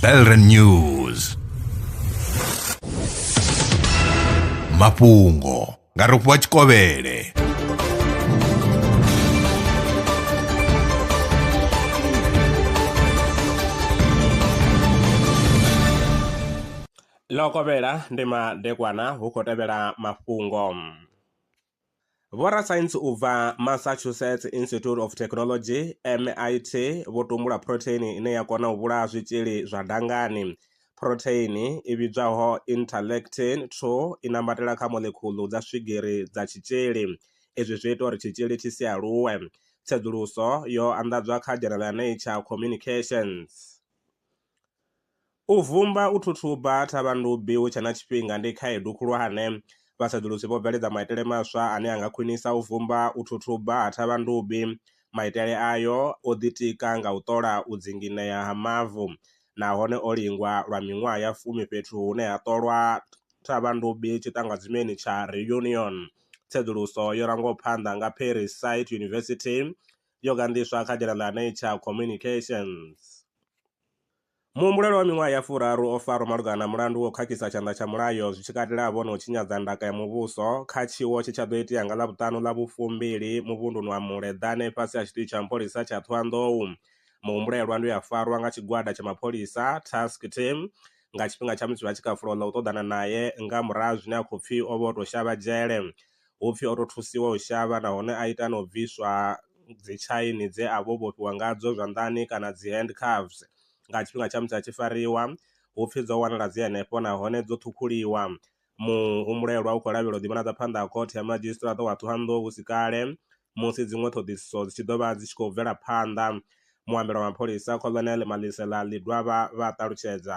Elren News mafhungo nga rofhiwa tshikovhele ḽo kovhela ndi madekwana hu khou tevhela mafhungo Vhorasaintsi u bva Massachusetts Institute of Technology, MIT, vho tumbula phurotheini ine ya kona u vhulaha zwitzhili zwa dangani. Phurotheini i vhidzwaho interleukin 2 i nambatela kha moḽekhuḽu dza swigiri dza tshitzhili. Izwi zwi ita uri tshitzhili tshi si aluwe. Tsedzuluso yo anḓadzwa kha dzhenala ya Nature Communications. U vumba, u thuthuba thavhandubi hu tshe na tshifhinga ndi khaedu khulwane. Vhasedzulusi vho bveledza maitele maswa ane a nga khwinisa u vumba, u thuthuba ha thavhandubi. Maitele ayo o ḓitika nga u ṱola u dzinginea ha mavu nahone o lingwa lwa miṅwaha ya fumi fhethu hune ha ṱolwa thavhandubi tshiṱangadzimeni tsha Réunion. Tsedzuluso yo rangwaho phanḓa nga Paris Site University yo gandiswa kha dzina ḽa Nature Communications. Muhumbulelwa wa miṅwaha ya furaru o farwa malugana na mulandu wa u khakhisa tshanḓa tsha mulayo zwi tshi katelaho na u tshinyadza ndaka ya muvhuso kha tshiwo tshe tsha ḓo itea nga Ḽavhuṱanu ḽa vhufumbili muvhunduni wa Muleḓane fhasi ha tshiṱitshi tsha mapholisa tsha Thohoyandou. Muhumbulelwa ndi we a farwa nga tshigwada tsha mapholisa, task team, nga tshifhinga tsha musi vha tshi kha fulo ḽa u ṱoḓana nae nga murahu ha zwine a khou pfi o vha o tou shavha dzhele hupfi oto thusiwa u shavha nahone a ita nau bviswa dzi tshaini dze avha o vhofhiwa ngadzo zwanḓani kana dzi hand cuffs nga tshifhinga tsha musi a tshi fariwa, hupfi dzo wanala dzi henefho nahone dzo ṱhukhuliwa. Muhumbulelwa u khou lavhelelwa u ḓi vhonadza phanḓa ha khothe ya madzhisiṱiraṱa wa Thohoyandou husi kale musi dziṅwe ṱhoḓisiso dzi tshi ḓo vha dzi tshi khou bvela phanḓa, muambeli wa mapholisa Colonel Malisela Ledwaba vha ṱalutshedza.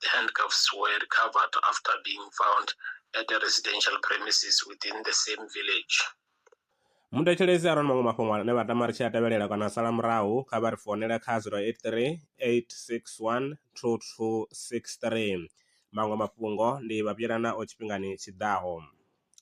The handcuffs were recovered after being found at a residential premises within the same village. muthetshelesi arali maṅwe mafhungo ane vha tama ri tshi a tevhelela kana sala murahu kha vha ri founele kha 083 861 2263 maṅwe mafhungo ndi vha vhuyelana o tshifhingani tshiḓaho